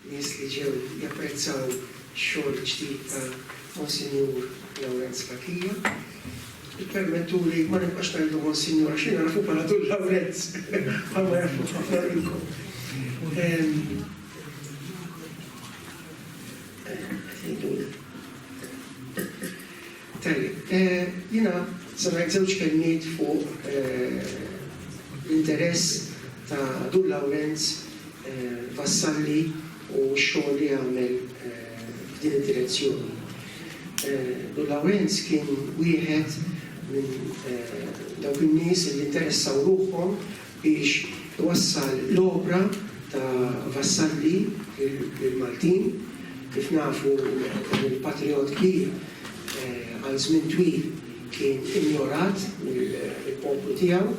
nies li ġew japprezzaw ix-xogħol ġdid ta' Monsinjur Lawrenz Pacchia. Ippermettuli ma nibqax ngħidu Monsinjur għax jiena nafu bħala Dun Lawrenz bħalma jafu ħafna minnkom. Tajjeb, jiena se ngħid żewġ kelmiet fuq l-interess ta' Dur Lawrenz Vassalli u x-xogħol li għamel f'din id-direzzjoni. Dur Lawrenz kien wieħed minn dawk in-nies li interessaw ruħhom biex twassal l-opra ta' Vassalli lill-Maltin. Kif nafu, dan il-patrijott kbir għal żmien twil kien injorat mill-poplu tiegħu.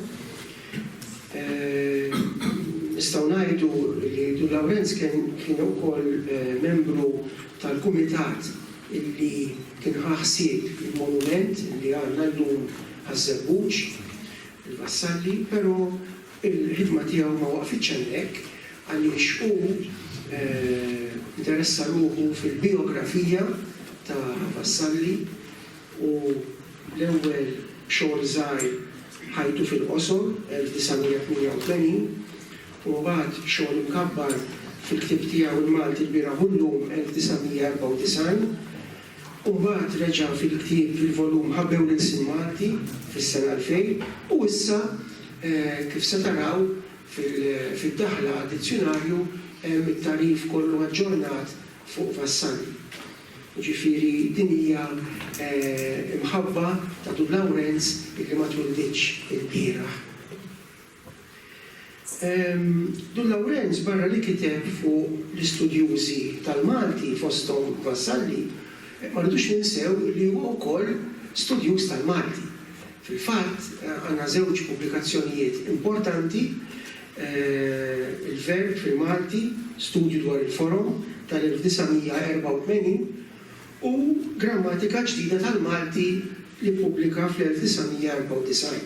Nistgħu ngħidu li Dun Lawrenz kien ukoll membru tal-kumitat li kien ħa ħsieb il-monument li għandna llum għaż-Żebbuġ. Vassalli, però l-ħidma tiegħu ma waqfitx hemmhekk għaliex hu nteressa ruħu fil-bijografija ta' Vassalli u l-ewwel xogħol żgħir Ħajtu fil-qosor, 1988, u mbagħad xogħol imkabbar fil-ktieb tiegħu Il-Malti lbieraħ u llum, 1994. u mbagħad reġa' fil-ktieb fil-volum Ħabbew l-Ilsien Malti fis-sena 2000, u issa, kif se taraw, fid-daħla għad-dizzjunarju hemm it-tagħrif kollu aġġornat fuq Vassalli. Jiġifieri din hija mħabba ta' Dun Lawrenz illi ma twilditx ilbieraħ. Dun Lawrenz barra li kiteb fuq l-istudjużi tal-Malti fosthom Vassalli, ma rridux ninsew li huwa wkoll studjuż tal-Malti. Fil-fatt għandna żewġ pubblikazzjonijiet importanti, Il-Verb fil-Malti, studju dwar il-forom, tal-1984, u Grammatika ġdida tal-Malti li ppubblika fl-1994.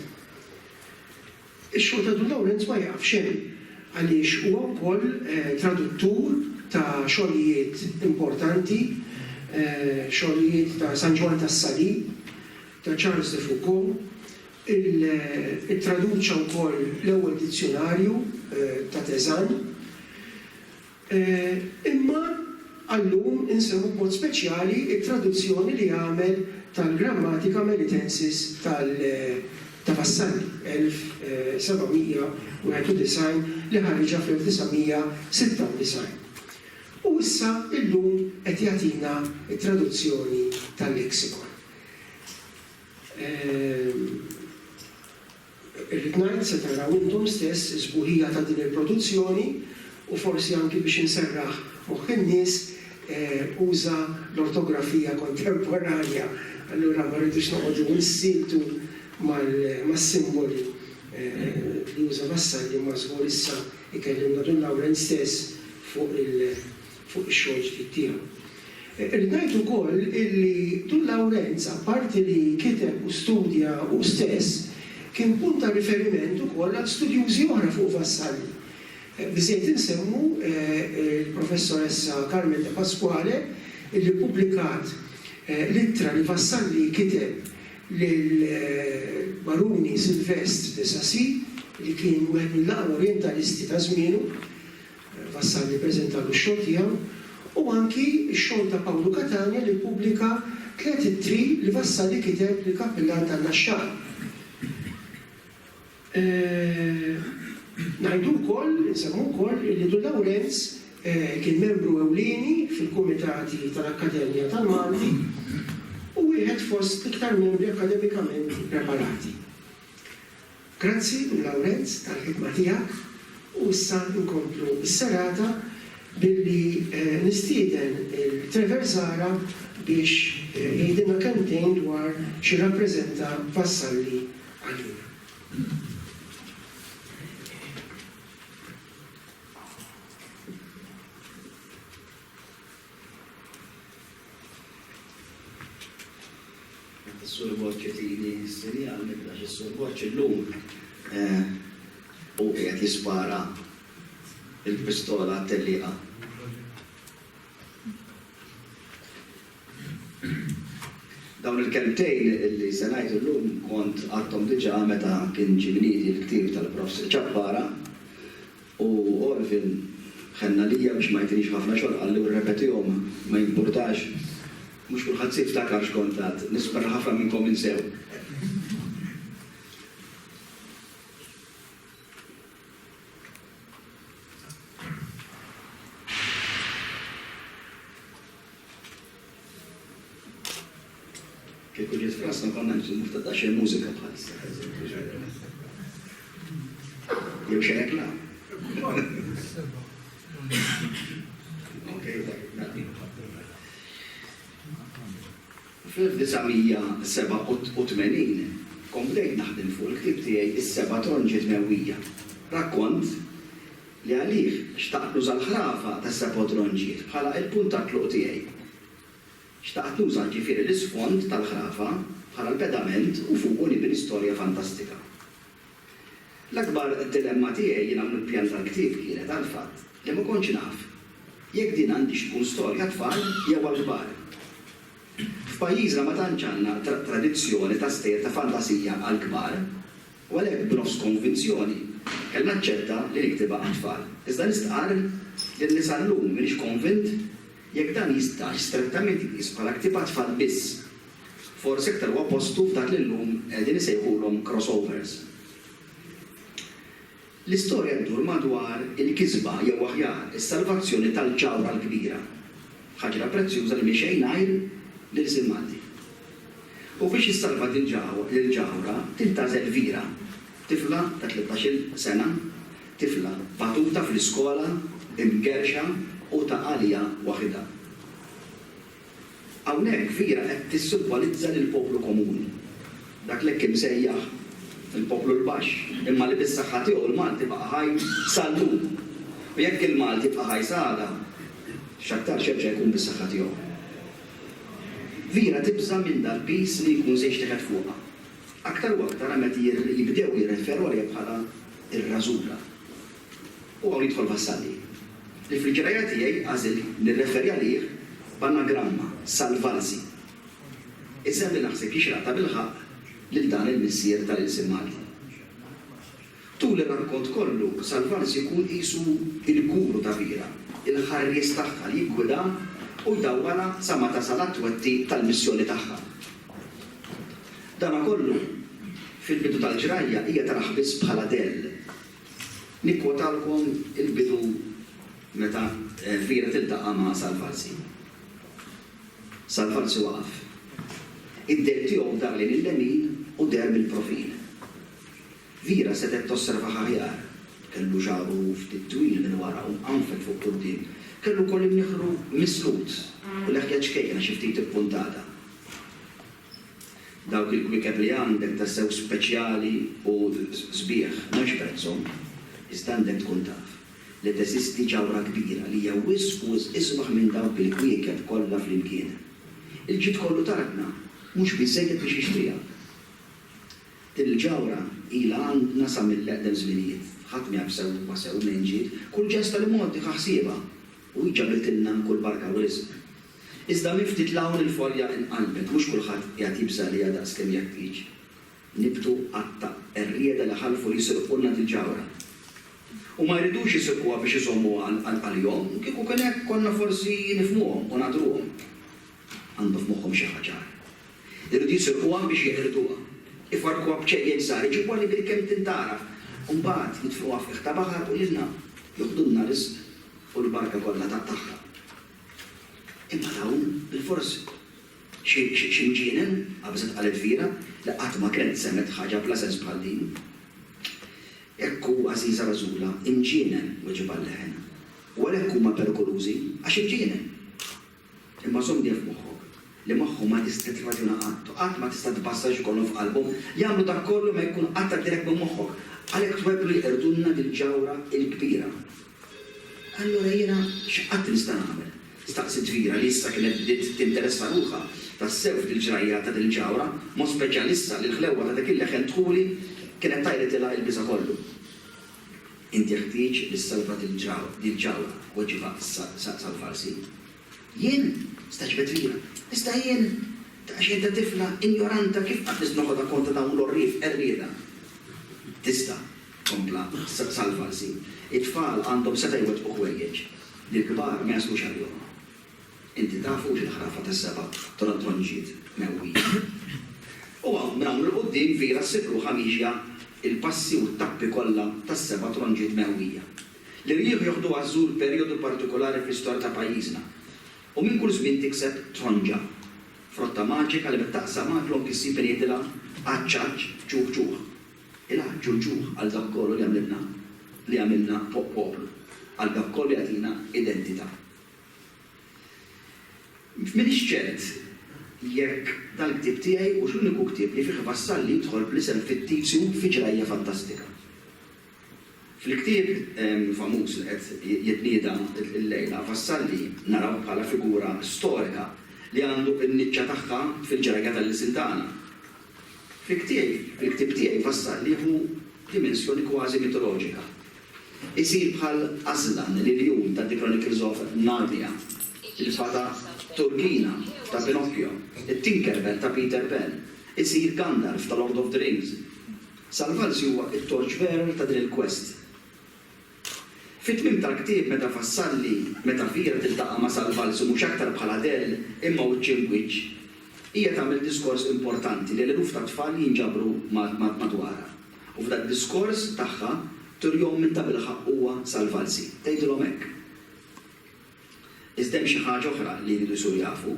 Ix-xogħol ta' Dun Lawrenz ma jieqafx hemm għaliex huwa wkoll traduttur ta' xogħlijiet importanti, xogħlijiet ta' San Ġwann tas-Salib, ta' Charles de Foucauld, ittraduċa wkoll l-ewwel dizzjunarju ta' Tezanne. Imma għal-lum insemmu b'mod speċjali t-traduzzjoni li għamel tal-Grammatica Melitensis ta' Vassalli, 1791, li ħariġha fl-1996. U issa llum qed jagħtina t-traduzzjoni tal-Lexicon. Irrid ngħid, se taraw intom stess is-sbuħija ta' din il-produzzjoni u forsi anki biex inserraħ moħħ in-nies, uża l-ortografija kontemporanja, allura ma rridux noqogħdu nsiltu mas-simboli li uża Vassalli imma żgur issa jkellimna Dun Lawrenz stess fuq fuq ix-xogħol ġdid tiegħu. Irrid ngħid ukoll illi Dun Lawrenz apparti li kiteb u studja hu stess, kien punt ta' riferiment ukoll għal studjużi oħra fuq Vassalli. Biżżejjed insemmu l-Professoressa Carmen De Pasquale illi ppubblikat l-ittra li Vassalli kiteb lill-Baruni Sylvestre de Sacy li kien wieħed mill-aqwa Orjentalisti ta' żmienu. Vassalli ppreżentalu x-xogħol tiegħu u anki x-xogħol ta' Pawlu Catania li ppubblika tliet ittri li Vassalli kiteb lill-Kappillan tan-Naxxar. Ngħidu wkoll, insemmu wkoll illi Dun Lawrenz kien membru ewlieni fil-kumitati tal-Akkademja tal-Malti u wieħed fost l-iktar membri akkademikament ippreparati. Grazzi lil Lawrenz tal-ħidma tiegħek u issa nkomplu s-serata billi nistieden lil Trevor Zahra biex jgħidilna kelmtejn dwar x'irrappreżenta Vassalli għalina. Is-Sur Borċi tili s-sinjal nibda x'is-Sur Borċi llum u qiegħed jispara il-pistola għat-tellieqa. Dawn il-kelmtejn li se ngħidu llum kont għadthom diġà meta kien ġie mniedi l-ktieb tal-Profs. Ċappara U Orville ħenna lija biex ma jtinix ħafna xogħol, qalli u rrepetihom, ma jimpurtax, mhux kulħadd se jiftakar x'kont għadt, nispera li ħafna minnkom insew. Kieku ġiet Franza konna nżummu f'ta' ta' xejn mużika bħal issa, eżempju, ġarrena. Jew xejn hekk la. Ok, nagħtik Fl-1987 komplejt naħdem fuq il-ktieb tiegħi is-seba' tronġiet mewwija. Rakkont li għalih xtaqt nuża l-ħrafa tas-Sepod Ronġiet bħala l-punt ta' tluq tiegħi. Xtaqt nuża ġifieri l-isfond tal-ħrafa bħala l-pedament u fuqu nibni storja fantastika. L-akbar dilemma tiegħi jien hawn il-pjan tal-ktieb kienet għall-fatt li ma kontx naf jekk din għandix tkun storja għat-tfal jew għall-kbar. F'pajjiżna ma tantx għandna tradizzjoni ta' stejjer ta' fantasija għall-kbar. u għalhekk b'nofs konvinzjoni kellha aċċetta li niktibha għat-tfal. Iżda nistqarr li lil sa llum m'iniex konvint jekk dan jistax strettament jitqies bħala ktieb għat-tfal biss. Forsi aktar huwa postu f'dak li llum qegħdin isejħulhom crossovers. L-istorja ddur madwar il-kisba, jew aħjar, is-salvazzjoni tal-ġawhra l-kbira, ħaġra prezzjuża li mhix xejn għajr l-ilsien Malti. U biex issalva dil-ġawhra tintaża Elvira, tifla ta' tlettax-il sena, tifla batuta fl-iskola, imgerrxa u ta' għalija waħidha. Hawnhekk Via qed tissimbolizza lill-poplu komuni, dak li hekk imsejjaħ il-poplu l-baxx, imma li bis-saħħa tiegħu l-Malti baqa' ħaj sal-lum. U jekk il-Malti jibqa' ħaj sa għada, x'aktarx jerġa' jkun bis-saħħa tiegħu. Via tibża' minn dal-piż li jkun se jixteħet fuqha, aktar u aktar meta jibdew jirreferu għaliha bħala r-Rażula. U hawn jidħol Vassalli, li fil-qrajja tiegħi għażilt nirreferi għalih b'anagramma, Salvarsi. Isem li naħseb jixraq tabilħaqq lil dan il-missier tal-ilsien Malti. Tul ir-rakkont kollu, Salvarsi jkun qisu l-guru ta' Bira, il-ħarries tagħha li jiggwidha u jdawwalha sa ma tasal għat-twettiq tal-missjoni tagħha. Dana kollu, fil-bidu tal-qrajja hija tarah biss bħala dell. Nikkwotalkom il-bidu meta Elvira tiltaqa' ma' Sal Falsi. Sal Falsi waqaf. Id-dell tiegħu dar lejn il-lemin u deher mill-profil. Vera setgħet tosservah aħjar. Kellu xagħru ftit twil minn wara u mqanfel fuq quddiem. Kellu wkoll imnieħru mislut u leħja ċkejkna xi ftit ippuntata. Dawk il-kwiekeb li għandek tassew speċjali u sbieħ mhux prezzhom, iżda għandek tkun taf li teżisti ġawhra kbira li hija wisq u wisq isbaħ minn dawk il-kwiekeb kollha flimkien. Il-ġid kollu t'Artna mhux biżżejjed biex jixtriha. Din il-ġawhra ilha għandna sa mill-eqdem żminijiet. Ħadd ma jaf sewwa sew minn ġid kull ġesta li Multi ħa ħsiebha u hi ġabitilna kull barka u riżq. Iżda minn ftit 'l hawn il-folja nqalbet, mhux kulħadd qiegħed jibża' għaliha daqs kemm jeħtieġ. Nibtu għadd ta' qerrieda li ħalfu li jsirqulna dil-ġawhra. U ma jridux isirquha biex iżommuha għalihom, kieku kien hekk konna forsi nifhmuhom u ngħadruhom. Għandhom f'moħħhom xi ħaġa oħra. Iridu jisirquha biex jeqirduha. Ifarrkuha b'ċejjel żgħar, iġibuha li bil-kemm tintgħaraf, u mbagħad jitfgħuha f'qiegħ ta' baħar u lilna joħdulna riżq u l-barka kollha tagħha. Imma dawn, bilfors. Xi, xi mġienen, qabżet qalet Vera, li qatt ma kienet semgħet ħaġa bla sens bħal din. Hekk hu, għażiża Rażula, imġienen, weġibha l-leħen. U għalhekk huma perikolużi, għax imġienen! Imma żomm dejjem f'moħħok li magħhom ma tista' tirraġuna qatt u qatt ma tista' tbassar x'ikollhom f'qalbhom, jagħmlu dak kollu ma jkun qatt għaddielek minn moħħok. Għalhekk twebblu jeqirdulna dil-ġawhra l-kbira. Allura jiena x'qatt nista' nagħmel? staqsiet Vera li issa kienet bdiet tinteressa ruħha tassew fil-ġrajja ta' din il-ġawhra, b'mod speċjali issa li l-ħlewwa ta' dak il-leħen dħuli kienet tajritilha il-biża' kollu. Int jeħtieġ li ssalva dil-ġawhra, weġibha issa Salvarsi. Jien? stagħġbet Vera. Iżda jien, daqsxejn ta' tifla injoranta kif qatt nista' noħodha kont ta' dawn l-għorrief qerrieda? Tista', Kompla, Sal-falsi, it-tfal għandhom setgħa jwettqu ħwejjeġ li l-kbar ma jasqux għalihom. Inti taf hux il-ħrafa tas-seba' trontonġiet mewwija? U hawn, minn hawn 'il quddiem, Vera ssib ruħha miexja l-passi u t-tappi kollha tas-seba' tronġiet mewwija. L-irjieħ joħduha żżur perjodu partikulari fl-istorja ta' pajjiżna u minn kull żmien tikseb tronġa, frotta maġika li meta taqsam għal klonk issib min jgħidilha, Għaċċ għaċċ, ċuħ ċuħ. Inħarrġu l-ġuħ għal dak kollu li għamilna, li għamilna poplu, għal dak kollu li jagħtina identità. M'iniex ċert jekk dal-ktieb tiegħi hux l-uniku ktieb li fih Vassalli jidħol bl-isem fittizju fi ġrajja fantastika. Fil-ktieb famuż li qed jitnieda llejla, Vassalli narawh bħala figura storika li għandu n-niċċa tagħha fil-ġrajja tal-ilsien tagħna. Fil-ktieb tiegħi Vassal jieħu dimensjoni kważi mitoloġika. Isir bħal Aslan, l-iljun ta' The Chronicles of Narnia, il-fata Turkina ta' Pinocchio, it-Tinkerbell ta' Peter Pan, isir Gandalf ta' Lord of the Rings. Salvalsi huwa t-torchbearer ta' din il-quest. Fit-tmiem tal-ktieb meta fassalli, meta Via tiltaqa' ma' Sal Valsi mhux aktar bħal Adele imma wiċċ imb wiċċ, hija tagħmel diskors importanti lil eluf ta' tfal li jinġabru madwarha. U f'dad-diskors tagħha turihom min tabilħaqq huwa Sal Valsi. Tgħidilhom hekk. Iżda hemm xi ħaġa oħra li jridu jsuru jafu.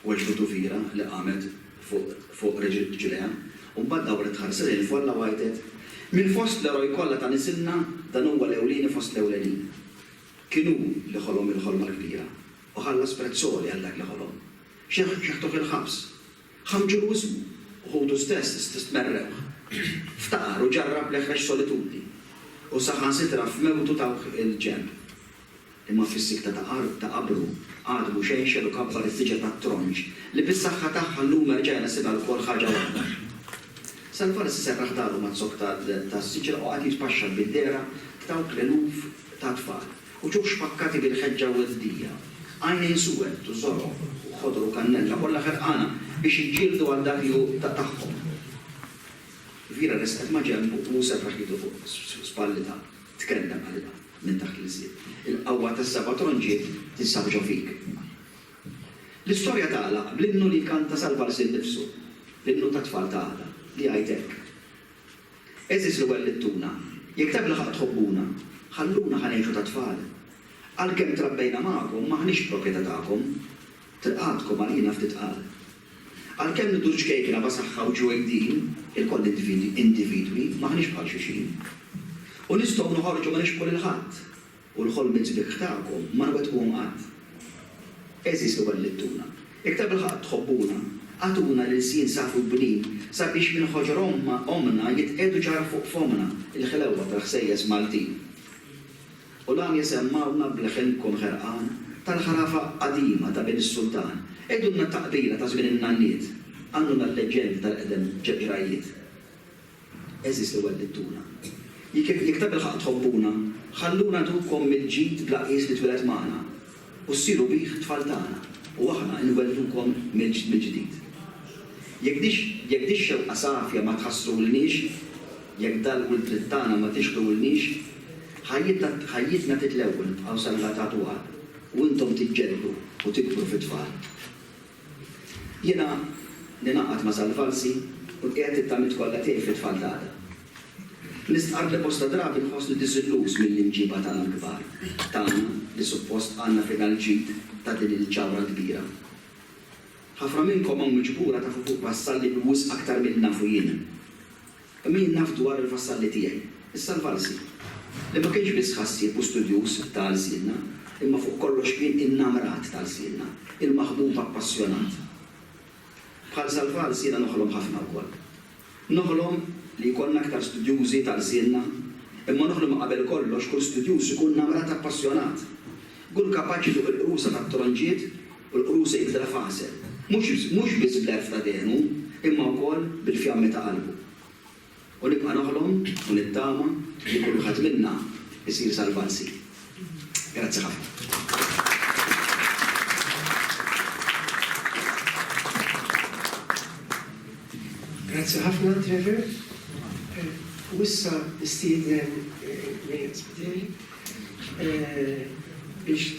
Weġġgħu tufira li qamet fuq riġilejha, u mbagħad dawret tħares lejn il-folla u għajtet, Minn fost l-eroj kollha ta' nisilna, dan huwa l-ewlieni fost l-ewlenin. Kien hu li ħolom il-ħolma l-kbira, u ħallas prezz għoli għal dak li ħolom. Xeħtuh il-ħabs. Ħamġulu ismu, u ħutu stess stmerrewh. Ftaqar u ġarrab l-eħrex solitudni, u saħansitra f'mewtu tawh il-ġenb. Imma fis-sikta ta' art ta' qabru, Admu xenxel u kabbar is-siġra tat-tronġ, li bis-saħħa tagħha llum erġa' jnissibha lkoll ħaġa waħda. Salvarsi serraħ daru maz-zokk tas-siġra u qagħad jitpaxxar bid-dehra t'dawk l-eluf ta' tfal, uċuħ xpakkati bil-ħeġġa u l-fdija, għajnejn suwed u żorob u ħodor u kannella, kollha ħerqana biex jiġġieldu għal dak li hu tagħhom. Vira resqet ma' ġenbu u hu serraħ idu fuq spallitha. Tkellem Alla minn taħt l-iżjed. Il-qawwa tas-seba' tronġiet tinsab ġo fik. L-istorja tagħlaq bl-innu li jkanta sal-vals innifsu, l-innu tat-tfal ta' għada, li jgħid hekk, Għeżież li wellittuna, jekk tabilħaqq tħobbuna, ħalluna ħa ngħixu tat-tfal. Għalkemm trabbejna magħkom m'aħniex proprjetà tagħkom. Tilqatkom għalina ftit qalb. Għalkemm nidhru ċkejkna ma' saħħa u ġwejdin, ilkoll individwi, m'aħniex bħal xulxin. U nistgħu noħorġu ma nixbħu lil ħadd, u l-ħolmiet sbieħ tagħkom ma nwettquhom qatt. Għeżież li wellittuna, iktar bil-ħaqq tħobbuna, agħtuna l-ilsien safi u bnin sabiex minn ħoġor ommna jitqiegħdu ġarħ fuq fommna l-ħlewwa tal-ħsejjes Maltin. U dan jisemmgħulna b'leħen ikun ħerqan, tal-ħrafa qadima ta' Bin is-Sultan. Għidulna taqbila ta' żmien in-nanniet, għalluna l-leġġendi tal-qedem ġeġrajiet. Għeżież li wellittuna. Jekk ta' bilħaqq tħobbuna, ħalluna ngħidulkom mill-ġid bla qies li twieled magħna. u ssiru bih tfal tagħna, u aħna inwelldukom mill-ġdid. Jekk di, jekk dix-xewqa safja ma tħassrulniex, jekk dal-wild trid tagħna ma tixħdulniex, ħajjitna, ħajjitna titlewwu nibqgħu salvatatu għal, u intom tiġġeldu u tikbru fi tfal. Jiena ningħaqad ma' Sal Falsi u nqiegħed it-tamiet kollha tiegħi fit-tfal ta' għada. Nistqarr li bosta drabi nħossni diżilluż mill-imġiba tagħna l-kbar, tagħna li suppost għandna fina l-ġid ta' din il-ġawhra kbira. Ħafna minnkom hawn miġbura tafu fuq Vassalli wisq aktar milli nafu jien. Kemm jien naf dwar il-vassalli tiegħi, is-salvalsi, li ma kienx biss ħassieb u studjuż ta' lsienna, imma fuq kollox kien innamrat ta' lsienna, il-maħbub appassjonat. Bħal Salvals jiena noħlom ħafna wkoll. Noħlom li jkollna aktar studjużi ta' lsienna, imma noħlom li qabel kollox kull studjuż ikun namrat appassjonat. Kull kapaċi fuq il-qrusa tat-tronġiet U l-Crusade ta' Faser, mhux biss bl-għerf ta' dehnu, imma wkoll bil-fjammi ta' qalbu. U nibqa' noħlom u nittama li kull wieħed minna jsir Salvanzi. Grazzi ħafna. Grazzi ħafna, Trevor. U issa nistieden lil Spiteri biex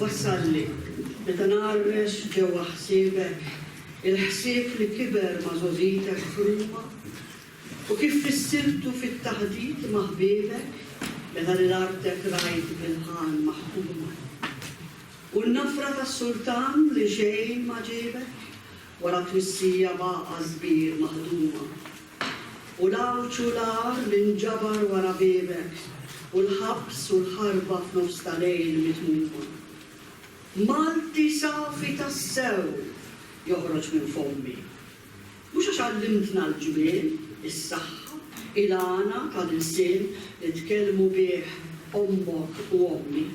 Wassalli, meta narrex ġewwa ħsiebek, il-ħsieb li kiber ma' żożitek f'Ruma, U kif fissirtu fit-taħdit ma' ħbiebek meta lil artek rajt bil-ħan maħkuma? U n-nafra tas-sultan li xejn ma ġiebek wara twissija b'għaqa' sbir maħduma? U l-għawġ u l-għar li nġabar wara biebek u l-ħabs u l-ħarba f'nofs ta' lejl mitmuma? Malti safi tassew joħroġ minn fommi. Mhux għax għallimtna l-ġmiel, is-saħħa, il-għana tal-ilsien li tkellmu bih ommok u ommi,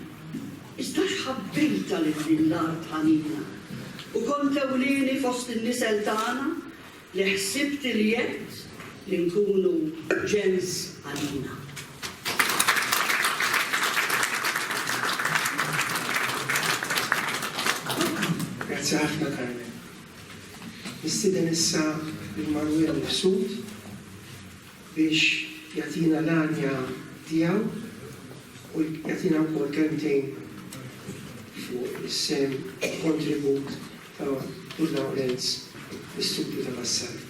iżda għax ħabbejtha lil din l-art ħanina u kont ewlieni fost in-nisel tagħna li ħsibt il-jedd li nkunu ġens għalina. Grazzi ħafna Carmen. Nistieden issa lil Manuel Mifsud biex jagħtina l-għanja tiegħu u jagħtina wkoll kelmtejn fuq is-sehem u l-kontribut ta' Dun Lawrenz fl-istudju ta' Vassari.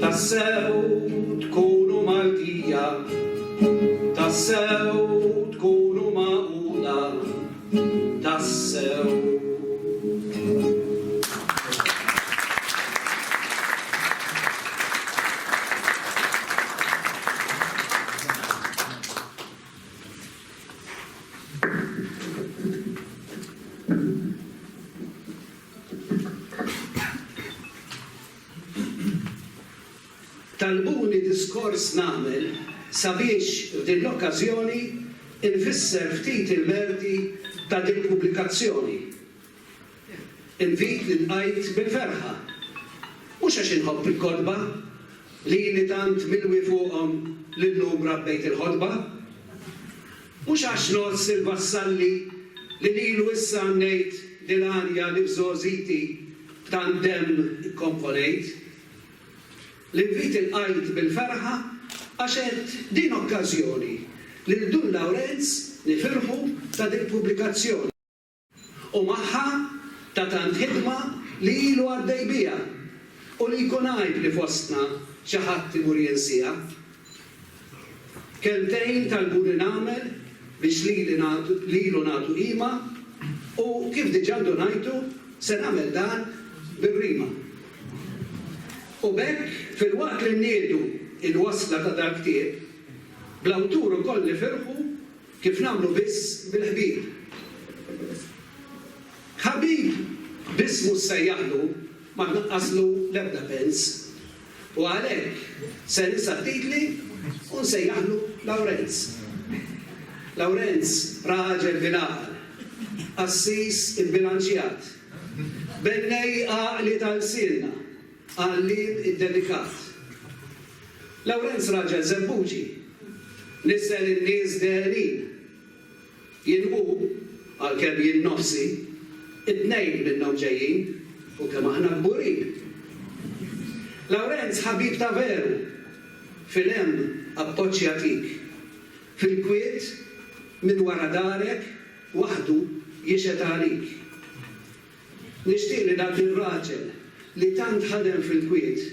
Tassew tkunu Maltija, tassew tkunu magħquda, tassew. Talbuni diskors nagħmel sabiex f'din l-okkażjoni nfisser ftit il-merti ta' dil-pubblikazzjoni. Invit li lqajt bil-ferħa. Mhux għax inħobb il-kotba, li ili tant milwi fuqhom li llum rabbejt il-ħotba. Mhux għax ngħożż il-Vassalli li lilu issa għannejt dil-għanja li f'żgħożiti B'tandem ikkomponejt. L-invit ilqajt bil-ferħa għax għedt din okkażjoni lil Dun Lawrenz nifirħu ta' dik pubblikazzjoni u magħha ta' tant ħidma li ilu għaddej biha u li jkun għajb li fostna xi ħadd imur jinsiha. Kelmtejn talbuni nagħmel biex lili nagħtu lilu nagħtu qima u kif diġà ndunajtu se nagħmel dan bir-rima. U b'hekk filwaqt li nniedu il-wasla ta' dal-ktieb, bl-awtur ukoll nifirħu kif nagħmlu biss bil-ħbieb. Ħabib biss mhux sejjaħlu ma tnaqqaslu l-ebda pens. U għalhekk se ninsa t-titli u nsejjaħlu Lawrenz. Lawrenz raġel bil-għaqal, qassis ibbilanċjat, bennej għaqli ta' lsienna, għalliem iddedikat. Lawrenz raġel żebbuġi, niżżel in-nies dehrenin. Jien u, għalkemm jien nnofsi, it-tnejn minnhom ġejjin, u kemm aħna kburin! Lawrenz ħabib ta' veru! Fil-hemm appoġġ jagħtik. Fil-kwiet, minn wara darek, waħdu jixhed għalik. Nixtieq li dak ir-raġel li tant ħadem fil-kwiet,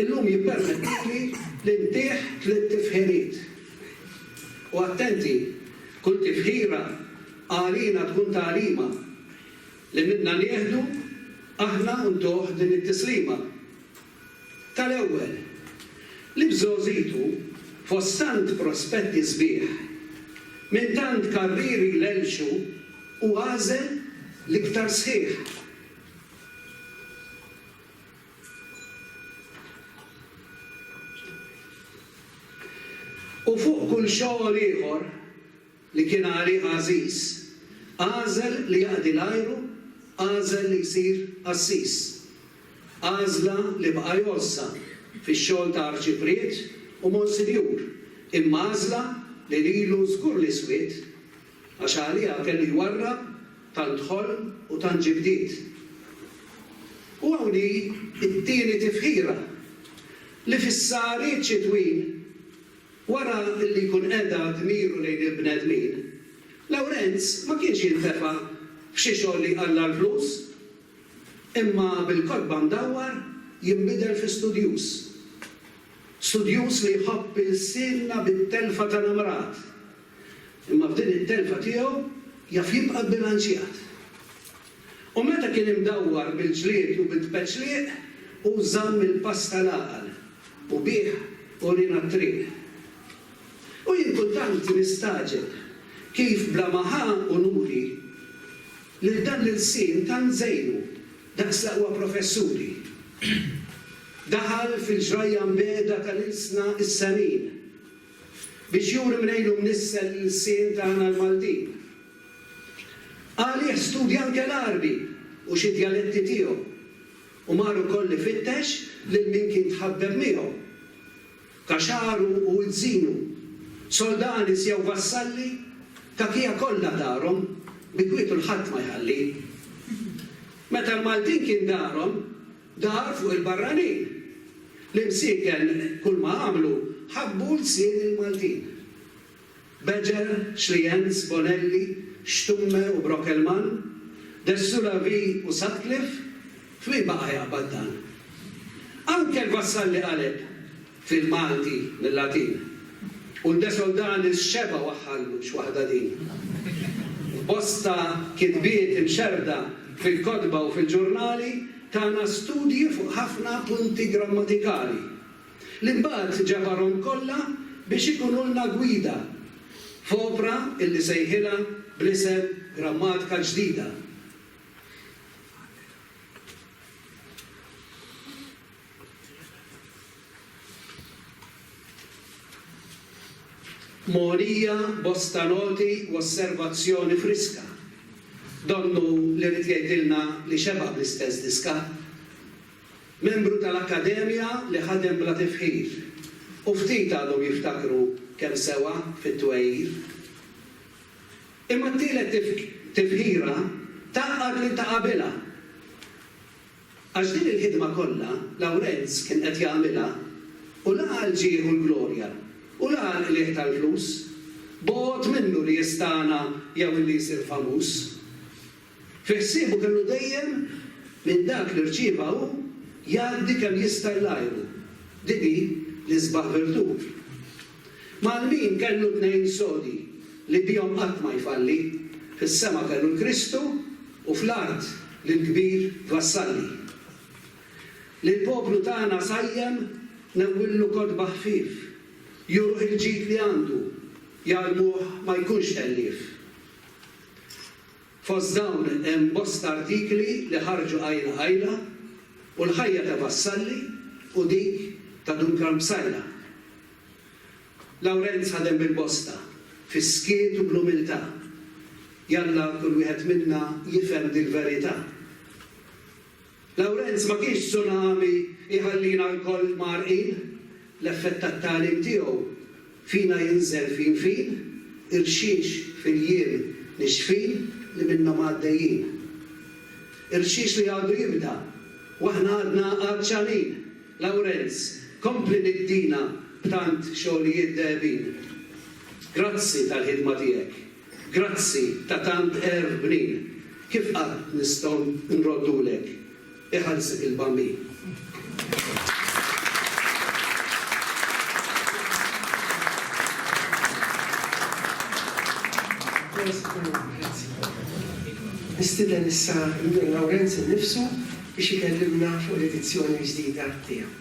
illum jippermettili li ntih tliet tifħiriet. U attenti, kull tifħira għalina tkun tagħlima, li minnha nieħdu aħna u ntuh din it-tislima. Tal-ewwel, li bżogħżitu, fost tant prospetti sbieħ, minn tant karrieri lelxu, hu għażel l-iktar sħiħ. U fuq kull xogħol ieħor, li kien għalih għażiż, għażel li jaqdi l-ajru, għażel li jsir qassis. Għażla li bqa' jgħożżha fix-xogħol ta' arċipriet u monsinjur, imma għażla li lilu żgur li swiet, għax għaliha kellu jwarrab tant ħolm u tant ġibdiet. U hawn hi t-tieni tifħira, li fis-sahariet xitwin Wara li jkun qeda dmiru lejn il-bnedmin, Lawrenz ma kienx jintefa' f'xi xogħol li jqalla' l-flus, imma bil-kotba mdawwar jinbidel fi studjuż. Studjuż li jħobb ilsienna bit-telfa ta' namrat, imma f'din it-telfa tiegħu jaf jibqa' bbilanċjat. U meta kien imdawwar bil-ġlied u bit-tpeċliq, hu żamm il-pass tal-għaqal, u bih urina t-triq. U jien kultant nistagħġeb kif bla ma ħa unuri, lil dan l-ilsien tant żejnu daqs l-aqwa professuri, daħal fil-ġrajja mbiegħda tal-ilsna is-sanin, biex juri mnejn u mnissel l-ilsien tagħna l-Maltin. Għalih studja anke l-Għarbi u xi djaletti tiegħu u mar ukoll ifittex lil min kien tħaddem miegħu, kaxaru u izzinu, soldanis jew vassalli, tagħtija kollha darhom, bi kwietu 'l ħadd ma jħalli. Meta l-Maltin kien darhom, dar fuq il-barranin. L-imsieken kulma għamlu ħabbu lsien il-Maltin. Bejer, Schlienz, Bonelli, Stumme u Brockelmann, Dessula V u Sutcliffe, f'min baqa' jaqbad dan? Anke l-Vassalli qaleb, fil-Malti, mil-Latin, u l-Desoldanis xebgħu aħħallu x'waħda din. F'bosta kitbiet imxerrda fil-kotba u fil-ġurnali tana studji fuq ħafna punti grammatikali. Li mbagħad ġabarhom kollha biex ikunulna gwida f'opra illi sejħilha bl-isem Grammatika Ġdida. Mogħnija bosta noti u osservazzjoni friska. Donnu li ried jgħidilna li xeba' bl-istess diska. Membru tal-Akkademja li ħadem bla tifħir, u ftit għadhom jiftakru kemm sewa fit-twegħir. Imma t-tielet tifħira tgħaqqad lil ta' qabilha. Għax din il-ħidma kollha Lawrenz kien qed jagħmilha u la għal ġieh u l-glorja u la għal qligħ tal-flus. Bogħod minnu li jistagħna jew li jsir famuż. Fi ħsiebu kellu dejjem minn dak li rċieva hu jgħaddi kemm jista' lil għajru. Din hi l-isbaħ virtù. Mal-min kellu tnejn sodi li bihom qatt ma jfalli, fis-sema kellu l-Kristu u fl-art lill-kbir vassalli. Lill-poplu tagħna sajjem newwillu kotba ħfief, juru il-ġid li għandu, jgħallmuh ma jkunx ħellief. Fost dawn hemm bosta artikli li ħarġu qajla qajla u l-ħajja ta' Vassalli u dik ta' Dun Karm Psaila. Lawrenz ħadem bil-bosta, fis-skiet u bl-umiltà. Jalla kull wieħed minna jifhem dil-verità. Lawrenz ma kienx tsunami jħallina lkoll mgħarrqin, l-effett tat-tagħlim tiegħu fina jinżel fin fin, irxix fil-jiem nixfin li minnhom għaddejjin. Irxix li għadu jibda u aħna għadna għatxanin, Lawrenz, kompli niddina b'tant xogħlijiet dehebin. Grazzi tal-ħidma tiegħek. Grazzi ta' tant għerf bnin, kif qatt nistgħu nroddulek? Iħallsek il-Bambin. Nistieden issa lil Lawrenz innifsu biex ikellimna fuq l-edizzjoni l-ġdida tiegħu.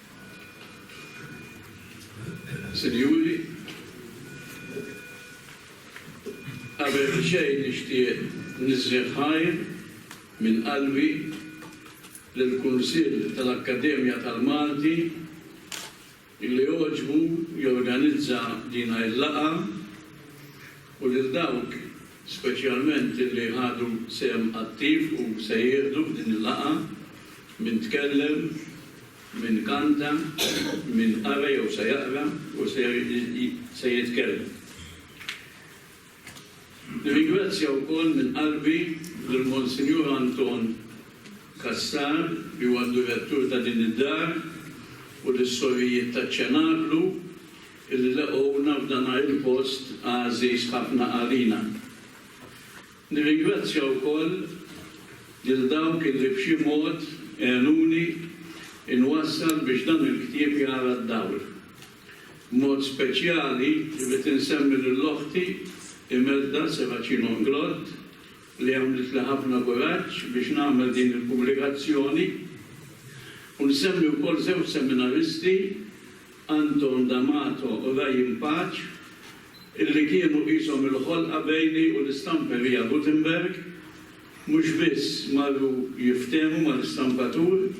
Sinjuri, qabel xejn nixtieq nisħi ħajr minn qalbi lill-Kunsill tal-Akkademja tal-Malti illi għoġbu jorganizza dina il-laqgħa u lil dawk speċjalment li ħadu sehem attiv u se jieħdu f'din il-laqgħa, min tkellem, min kanta, min qara jew se jaqra u se jitkellem. Nirringrazzja wkoll minn qalbi lil Monsinjur Anton Cassar li huwa d-Direttur ta' din id-Dar u lis-Sorijiet taċ-Ċenaklu, li leqgħuna f'dan il-post għażiż ħafna għalina. Nirringrazzja wkoll lil dawk li b'xi mod għenuni nwassal biex dan il-ktieb jara d-dawl. B'mod speċjali rrid insemmi lil oħti Imelda Serracino Nglott li għamlitli ħafna kuraġġ biex nagħmel din il-pubblikazzjoni u nsemmi wkoll żewġ seminaristi, Anton D'Amato u Ryan Pace, illi kienu qishom il-ħolqa bejni u l-istamperija Gutenberg, mhux biss marru jiftehmu mal-istampatur,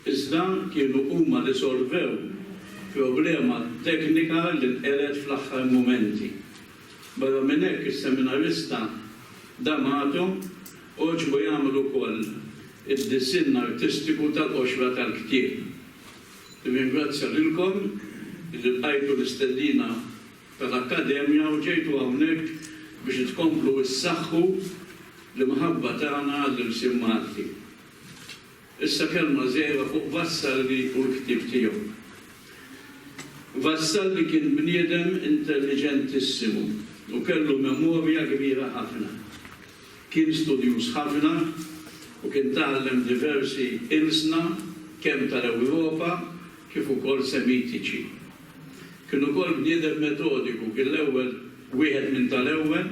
iżda kienu huma li solvew problema teknika li nqered fl-aħħar mumenti. Barra minn hekk, is-seminarista D'Amato għoġbu jagħmel ukoll id-disinn artistiku tal-qoxra tal-ktieb. Nirringrazzja lilkom li lqajtu l-istedina tal-Akkademja u ġejtu hawnhekk biex tkomplu ssaħħu l-imħabba tagħna għall-ilsien Malti. Issa kelma żgħira fuq Vassalli u l-ktieb tiegħu. Vassalli kien bniedem intelliġentissimu u kellu memorja kbira ħafna. Kien studjuż ħafna u kien tgħallem diversi ilsna kemm tal-Ewropa kif ukoll Semitiċi. Kien ukoll bniedem metodiku, kien l-ewwel, wieħed minn tal-ewwel,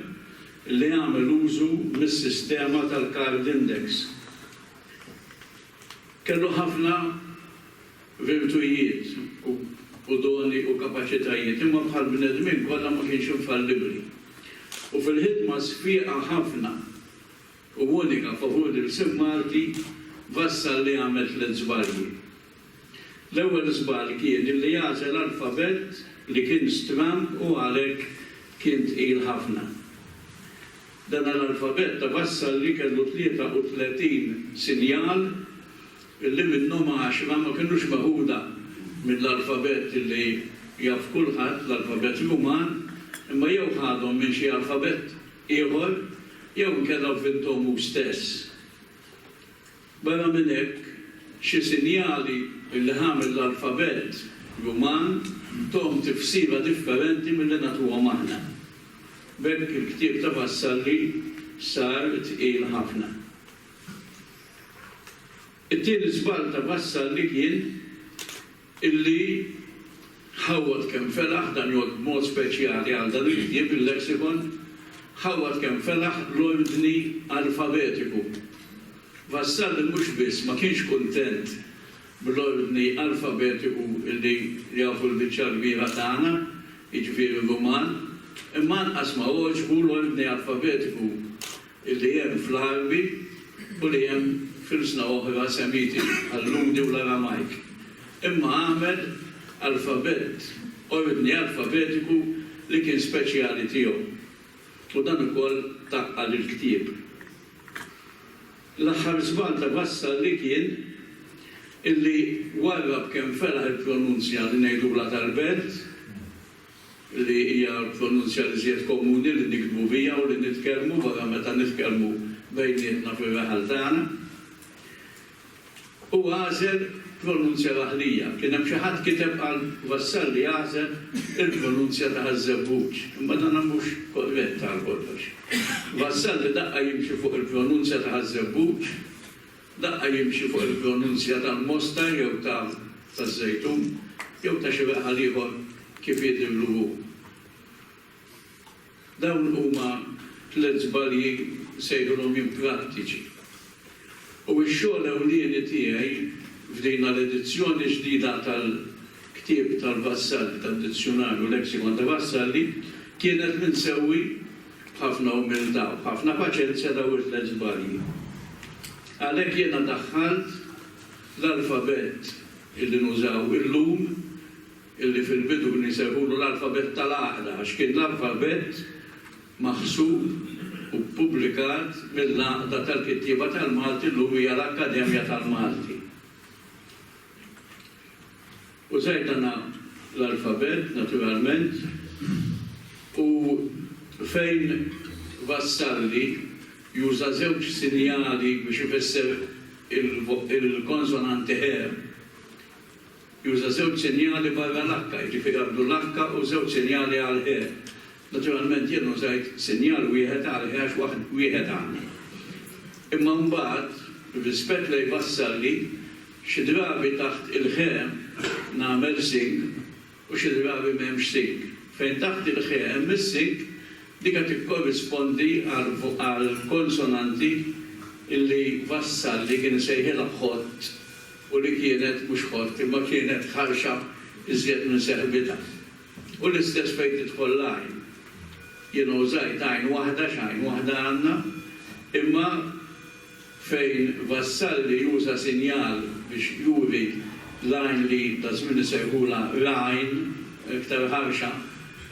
li għamel użu mis-sistema tal-Card Index. Kellu ħafna virtujiet u doni u kapaċitajiet, imma bħall-bnedmin kollha ma kienx infallibbli. U fil-ħidma sfieqa ħafna u unika favur l-ilsien Malti wassal li għamel tliet żbalji. L-ewwel żball kien li għażel alfabett li kien stramb u għalhekk kien tqil ħafna. Dan l-alfabett wassal li kellu 33 sinjal li minnhom għaxra ma kinux meħuda mill-alfabett li jaf kulħadd, l-alfabett Ruman, imma jew ħadhom minn xi alfabett ieħor jew inkella vvinthom hu stess. Barra minn hekk, xi sinjali li ħa mill-alfabett Ruman tuhom tifsira differenti milli nagħtuhom aħna. B'hekk il-ktieb ta' Vassalli sar tqil ħafna. It-tieni żball ta' Vassalli kien illi ħawwad kemm felaħ, dan jgħodd b'mod speċjali għal dan il-ktieb, il-Lexicon, ħawwad kemm felaħ l-ordni alfabetiku. Vassalli mhux biss ma kienx kuntent bl-ordni alfabetiku illi jafu l-biċċa l-kbira tagħna, jiġifieri Ruman, imma anqas ma għoġbu l-ordni alfabetiku Illi hemm fl-Għarbi u li hemm f'ilsna oħra Semiti, bħal-Lhudi u l-Aramajk. Imma għamel alfabett, ordni alfabetiku li kien speċjali tiegħu. U dan ukoll taqqa' lill-ktieb. L-aħħar żball ta' Vassalli kien illi warrab kemm felaħ il-pronunzja li ngħidulha tal-belt. li hija l-pronunzja l-iżjed komuni li niktbu biha u li nitkellmu wara meta nitkellmu bejnietna fir-raħal tagħna. Hu għażel pronunzja raħlija. Kien hemm xi ħadd kiteb qal Vassalli għażel il-pronunzja ta' Ħaż-Żebbuġ, imma dan mhux korrett għal kollox. Vassalli daqqa jimxi fuq il-pronunzja ta' Ħaż-Żebbuġ Daqqa jimxi fuq il-pronunzja tal-mosta jew ta' taż-żejtun, jew ta' xi weqħal ieħor kif jidhirlu hu. Dawn huma tliet żbalji sejħilhom jien prattiċi. U x-xogħol ewlieni tiegħi f'dina l-edizzjoni ġdida tal-ktieb tal-Vassalli, tad-Dizzjunarju u Lexicon ta' Vassalli, kienet li nsewwi, B'ħafna umiltà u b'ħafna paċenzja dawn it-tliet żbalji. Għalhekk jiena daħħalt l-alfabett illi nużaw illum, illi fil-bidu kien isejħulu l-alfabett tal-għaqda għax kien l-alfabett maħsub u ppubblikat mill-Għaqda tal-Kittieba tal-Malti llum hija l-Akkademja tal-Malti. Użajt dan l-alfabett, naturalment, u fejn wassalni juża żewġ sinjali biex ifisser il-konsonanti he, juża żewġ sinjali barra l-H, jiġifieri għandu l-H u żewġ sinjali għall-he. Naturalment jien użajt sinjal wieħed għalih għax waħd wieħed għandi. Imma mbagħad, b'rispett lejn Vassalli, xi drabi taħt il-ħe nagħmel sing u xi drabi m'hemmx sing. Fejn taħt il-ħe hemm is-sing, dika tikkorrispondi għall-konsonanti li Vassalli kien isejħilha ħott u li kienet mhux ħott imma kienet ħarxa iżjed minn seħbitha. U l-istess fejn tidħol l-għajn. Jiena użajt għajn waħda x'għajn waħda għandna, imma fejn Vassalli juża sinjal biex juri l-għajn li daż-żmien isejħulha ragħajn, iktar ħarxa,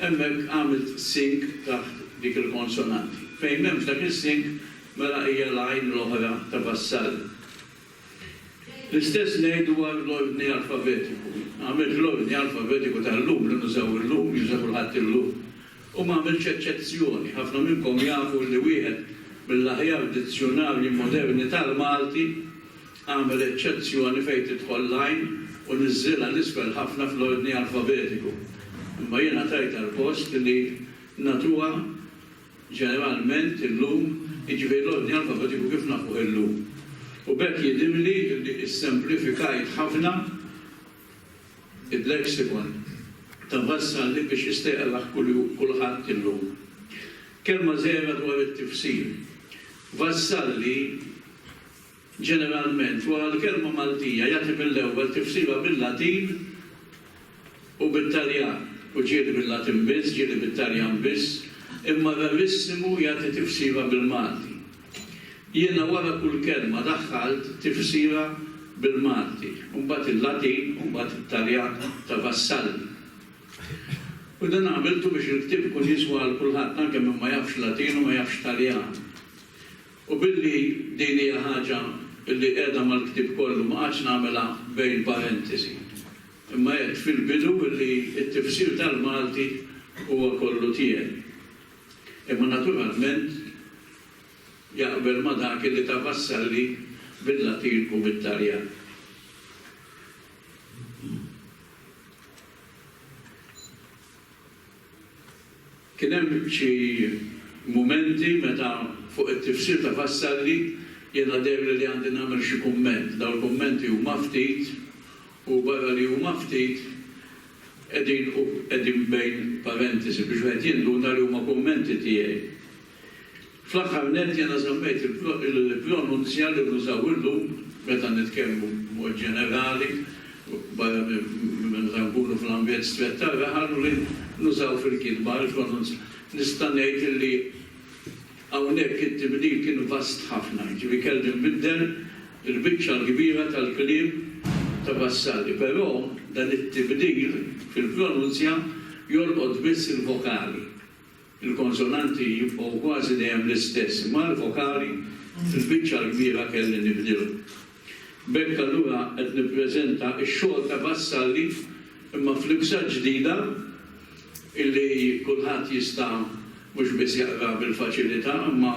hemmhekk għamilt sink taħt dik il-konsonanti. Fejn m'hemmx dak is-sink, mela hija l-għajn l-oħra ta' Vassalli. L-istess ngħid dwar l-ordni alfabetiku. M'għamiltx l-ordni alfabetiku tal-lum li nużaw illum, li juża kulħadd illum, u m'għamiltx eċċezzjoni. Ħafna minnkom jafu li wieħed mill-aħjar dizzjunarji moderni tal-Malti għamel eċċezzjoni fejn tidħol l-għajn u niżżilha 'l isfel ħafna fl-ordni alfabetiku. Imma jiena tajt għall-post li nagħtuha ġeneralment illum, jiġifieri l-ordni alfabetiku kif nafuh illum. U b'hekk jidhirli li issemplifikajt ħafna il-lexicon ta' Vassalli biex jistgħeqrah kulħadd illum. Kelma żgħira dwar it-tifsir. Vassalli. Ġeneralment, wara l-kelma Maltija jagħti mill-ewwel tifsira bil-Latin u bit-Taljan, u ġieli bil-Latin biss, ġieli bit-Taljan biss, imma rarissimu jagħti tifsira bil-Malti. Jiena wara kull kelma daħħalt tifsira bil-Malti, u mbagħad il-Latin u mbagħad it-Taljan ta' Vassalli. U dan għamiltu biex il-ktieb ikun jiswa għal kulħadd, anke min ma jafx Latin u ma jafx Taljan. U billi din hija ħaġa li qiegħda mal-ktieb kollu ma qgħadtx nagħmilha bejn parentesi. Imma għedt fil-bidu li t-tifsir tal-Malti huwa kollu tiegħi. Imma naturalment jaqbel ma' dak li ta Vassalli bil-Latin u bit-Taljan. Kien hemm xi mumenti meta fuq it-tifsir ta' Vassalli jiena deherli li għandi nagħmel xi kumment. Dawn il-kummenti huma ftit u barra li huma ftit qegħdin u qegħdin bejn parentesi biex wieħed jinduna li huma kummenti tiegħi. Fl-aħħar nett, jiena żammejt il-pronunzja li nużaw illum meta nitkellmu b'mod ġenerali, barra minn meta nkunu fl-ambjent strett tar-raħal, u li nużaw fil-kitba l-pronunzja. Nista' ngħid li hawnhekk it-tibdil kien vast ħafna, jiġifieri kelli nbiddel il-biċċa l-kbira tal-kliem ta' Vassalli. Però dan it-tibdil fil-pronunzja jolqot biss il-vokali. Il-konsonanti jibqgħu kważi dejjem l-istess imma l-vokali fil-biċċa l-kbira kelli nibdilhom. B'hekk allura qed nippreżenta x-xogħol ta' Vassalli imma f'libsa ġdida illi kulħadd jista' mhux biss jaqra bil-faċilità imma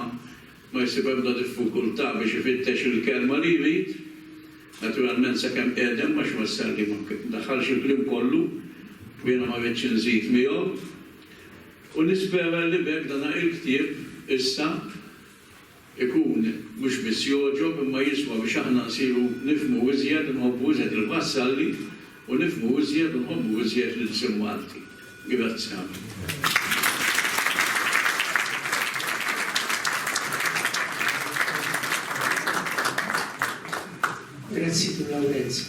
ma jsib ebda diffikultà biex ifittex il-kelma li jrid, naturalment sakemm qiegħdem għax Vassalli ma daħħalx il-kliem kollu u jiena ma ridtx inżid miegħu. U nispera li b'hekk dan il-ktieb issa jkun mhux biss jogħġob imma jiswa biex aħna nsiru nifhmu iżjed u nħobbu iżjed il-Vassalli u nifhmu iżjed u nħobbu iżjed l-ilsien Malti. Grazzi. Grazzi Dun Lawrenz.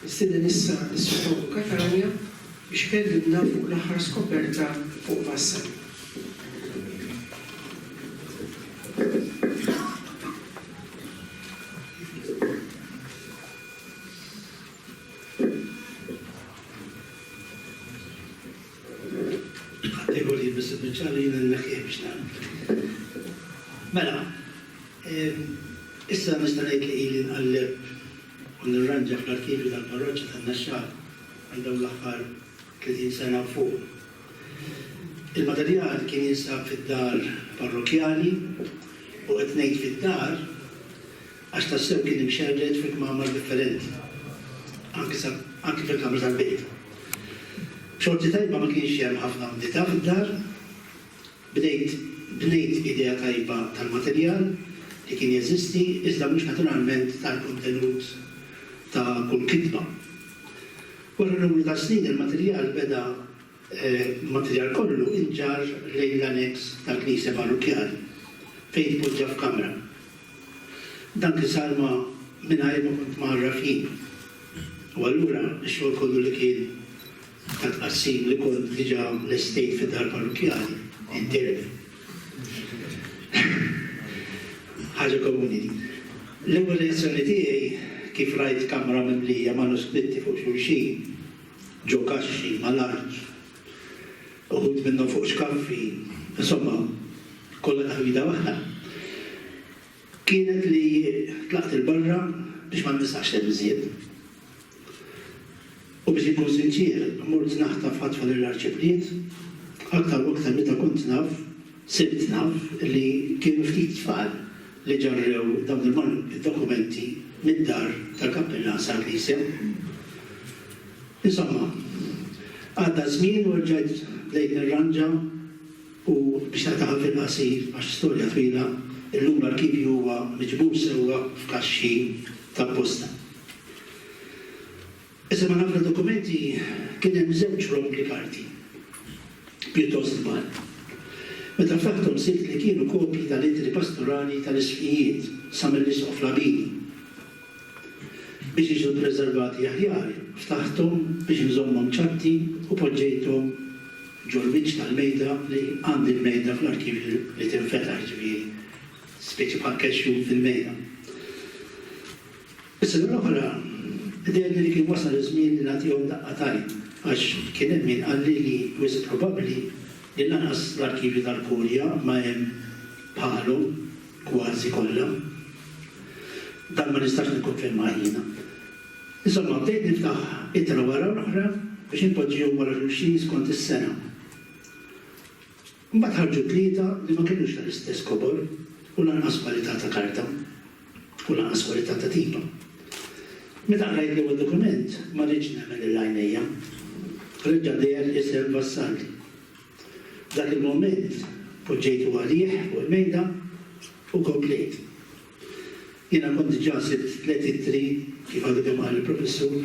Issir din issa l-Ispettur Catania biex ikellimna fuq l-aħħar skoperta fuq Massa. u nirranġa fl-arkivju tal-parroċċa tan-Naxxar għal dawn l-aħħar 30 sena u fuq. Il-materjal kien jinsab fid-dar parrokkjali u qed ngħid fid-dar għax tassew kien imxerred fi kmamar differenti, anki fil-kamra tal-bejt. Xorti tajba ma kienx hemm ħafna umdità fid-dar, Bdejt bnejt idea tajba tal-materjal li kien jeżisti iżda mhux naturalment tal-kontenut ta' kull kitba. Wara numru ta' snin il-materjal beda il-materjal kollu inġarr lejn l-aneks tal-knisja parrukkjali fejn tpoġġa f'kamra. Dan kien sar ma' mingħajr ma kont mgħarraf jien u allura x-xogħol kollu li kien ta' tqassim li kont diġà lestejt fid-dar parrukkjali intern. Ħaġa komuni din. L-ewwel reazzjoni tiegħi kif rajt kamra mimlija manuskritti fuq xulxin, ġo kaxxi mal-art, uħud minnhom fuq xkaffi, insomma, kollha taħwida waħda. Kienet li tlaqt 'il barra biex ma nresqax l-ilżien. U biex inkun sinċier, mort naħtaf ħatfa lil Arċipliet. Aktar u aktar meta kont naf, sirt naf li kienu ftit tfal li ġarrew dawn il-dokumenti mid-dar tal-kappillan sal-knisja. Insomma, għadda ż-żmien u rġajt bdejt nirranġa. U biex nagħtiha fil-qasir għax storja twila, illum l-arkivju huwa miġbur sewwa f'kaxxi ta' posta. Iżda ma' ħafna dokumenti kien hemm żewġ rombli karti pjuttost kbar. Meta ftaħthom sibt li kienu kopji tal-ittri pastorali tal-Isqfijiet sa mill-Isqof Labini. biex jiġu ppreservati aħjar, ftaħthom biex inżommhom ċatti u poġġejthom ġol-wiċċ tal-mejda li għandi l-mejda fl-arkivju li tinfetaħ, jiġifieri spiċċa bħal cash room fil-mejda. Is-sena l-oħra dherli li kien wasal iż-żmien li nagħtihom daqqa t'għajn għax kien hemm min qalli li wisq probabbli li lanqas l-arkivju tal-Kurja ma hemm bħalhom kważi kollha. Dan ma nistax nikkonfermah jiena. Insomma, bdejt niftaħ ittra wara l-oħra biex inpoġġihom wara xulxin skont is-sena. Imbagħad ħarġu tlieta li ma kinux tal-istess kobor u lanqas kwalità ta' karta u lanqas kwalità ta' tipa. Meta qrajt l-ewwel dokument, ma ridtx nemmen lil għajnejja. Reġa' deher isem Vassalli. F'dak il-mument poġġejtu għalih fuq il-mejda u komplejt. Jiena kont diġà sibt tliet ittri, kif għadu kemm qal il-Professur,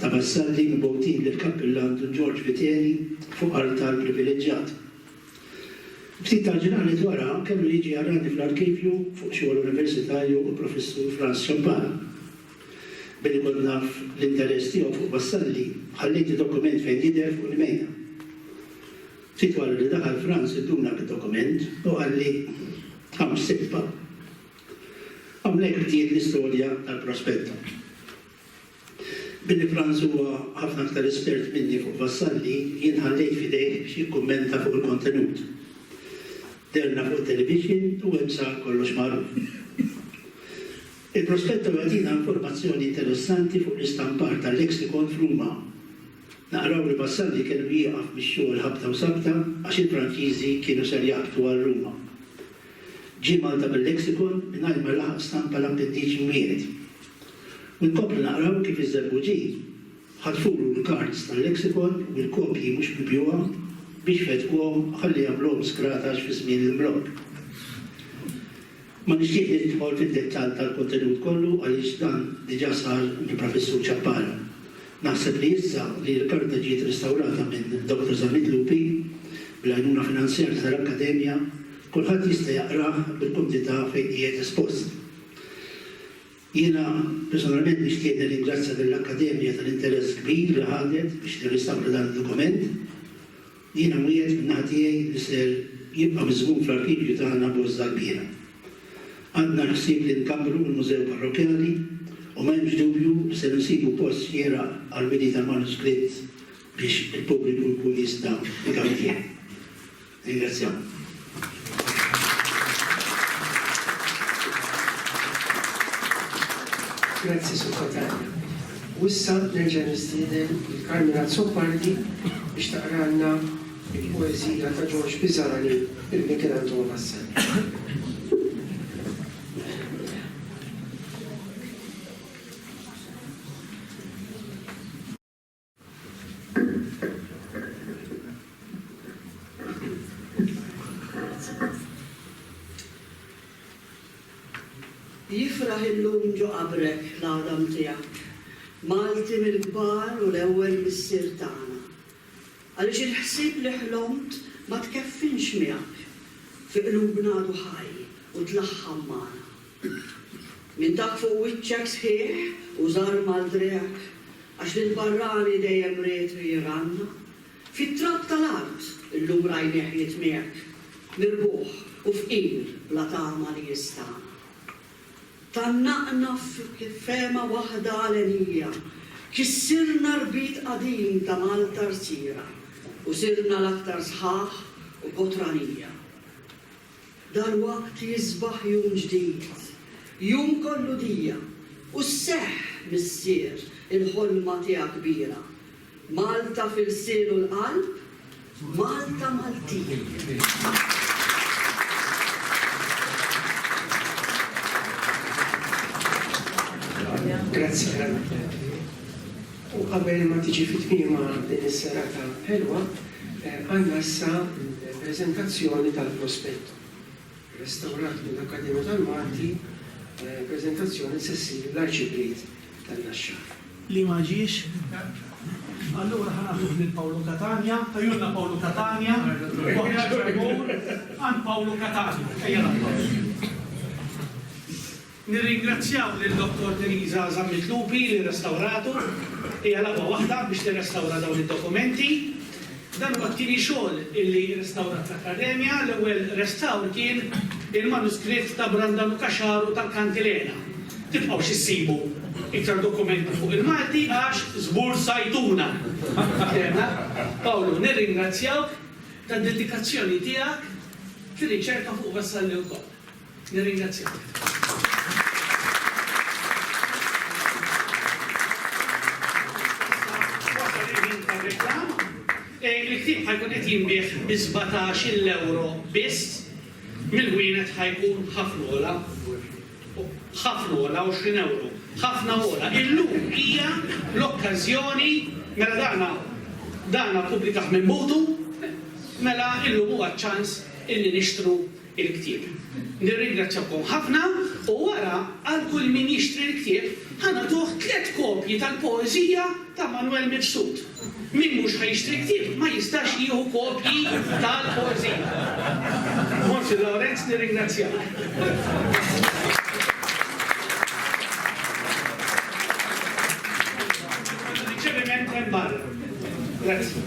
ta' Vassalli mibgħutin lill-Kappillan Dun Ġorġ Viteri fuq artal privileġġjat. Ftit tal-ġranet wara kellu jiġi jarani fl-arkivju fuq xogħol universitarju l-Professur Frans Ciampara. Billi kont naf l-interess tiegħu fuq Vassalli, ħallejt id-dokument fejn jidher fuq l-imejda. Ftit wara li daħal Frans idduna bid-dokument u qalli, Hawn ssibha. Hawnhekk bdiet l-istorja tal-Prospetto. Billi Frans huwa ħafna aktar espert minni fuq Vassalli, jien ħallejt f'idejh biex jikkummenta fuq il-kontenut. Deherna fuq it-televixin u hemm sar kollox magħruf. Il-prospetto jagħtina informazzjoni interessanti fuq l-istampar ta' lexicon f'Ruma. Naqraw li Vassalli kellu jieqaf mix-xogħol ħabta u sabta għax il-Franċiżi kienu ser jaqbdu għal Ruma. Ġie Malta bil-lexicon mingħajr ma laħaq stampa l-appendiċi mwiegħed. U nkomplu naqraw kif iż-żerbuġi ħatfulu l-kards tal-lexicon u l-kopji mhux mibjugħa biex fettquhom ħalli jagħmluhom skratax fi żmien l-imblokk. Ma nixtieq nidħol fid-dettall tal-kontenut kollu għaliex dan diġà sar mill-Professur Ciappara. Naħseb li issa li l-karta ġiet restawrata minn Dottor Zammit Lupi, bl-għajnuna finanzjarja tal-Akkademja, kulħadd jista' jaqrah bil-kumdità fejn qiegħed espost. Jiena personalment nixtieq nirringrazzja lill-Akkademja tal-interess kbir li ħadet biex tirrestawra dan id-dokument. Jiena nwiegħed min-naħa tiegħi li ser jibqa' miżmum fl-arkivju tagħna Bożża l-Kbira. Għandna l-ħsieb li nkabbru l-Mużew Parrokkjali u ma hemmx dubju li ser insibu post xieraq għall-widi tal-manuskritt biex il-pubbliku jkun jista' jgawdih. Nirringrazzjakom. Grazzi Segretarju. U issa nerġa' nistieden lil Carmine Azzopardi biex taqralna il-poeżija ta' George Pisani il Michelangelo Massari. Jifraħ illum ġo qabrek l-għadam tiegħek, Malti mill-kbar u l-ewwel missier tagħna. Għaliex il-ħsieb li ħlomt ma tkeffinx miegħek, fi qlubna għadu ħaj u tlaħħam magħna. Minn dak fuq wiċċek sħiħ u żgħar mal-drekk, għax lill-barrani dejjem ried li jranna. Fit-trab tal-art illum rajnieh jitmiegħek, mirbuħ u fqir bla tama li jistagħan. Tgħannaqna f'fehma waħda għalenija, kissirna rbit qadim ta' Malta rsira u sirna l-aktar sħaħ u kotranija. Dalwaqt jisbaħ jum ġdid, jum kollu dija, u sseħħ, Missier, il-ħolma tiegħek kbira. Malta f'ilsien u l-qalb, Malta Maltin. Grazie. U qabel ma tiġi fi tmiemha din is-serata ħelwa, għandna issa l-preżentazzjoni tal-prospetto, restawrat mill-Akkademja tal-Malti, preżentazzjoni li se ssir l-Arċipriet tan-Naxxar. Li ma ġiex, allura ħa nagħtuh lil Pawlu Catania, tajjulna Pawlu Catania, waħda ġabur għand Pawlu Catania. Ejja nagħtuh. Nirringrazzjaw lil Dottor Theresa Zammit Lupi li rrestawratu. Hija lagħba waħda biex tirrestawra dawn id-dokumenti. Dan huwa t-tieni xogħol illi rrestawrat l-Akkademja, l-ewwel restawr kien il-manuskritt ta' Brandanu Caxaru tal-Kantilena. Tibqgħux issibu iktar dokumenti fuq il-Malti għax żbursajtuna! Paterna. Pawlu, nirringrazzjawk tad-dedikazzjoni tiegħek fir-riċerka fuq Vassalli wkoll. Nirringrazzjak. Il-ktib ħajkun qed jinbih bi 17 euro biss mill-wienet ħajkun ħafna ola. Ħafna ola 20 euro. Ħafna ola. Illum hija l-okkażjoni mela dana dana pubblikaħ minn mutu mela illum huwa ċans illi nixtru il-ktieb. Nirringrazzjakom ħafna u wara għal kull min jixtri l-ktieb ħa nagħtuh tliet kopji tal-poeżija ta' Manwel Mifsud. Min mhux ħa jixtri l-ktieb ma jistax jieħu kopji tal-poeżija. Mons. Lawrenz nirringrazzjak. Riċeviment hemm barra. Grazzi.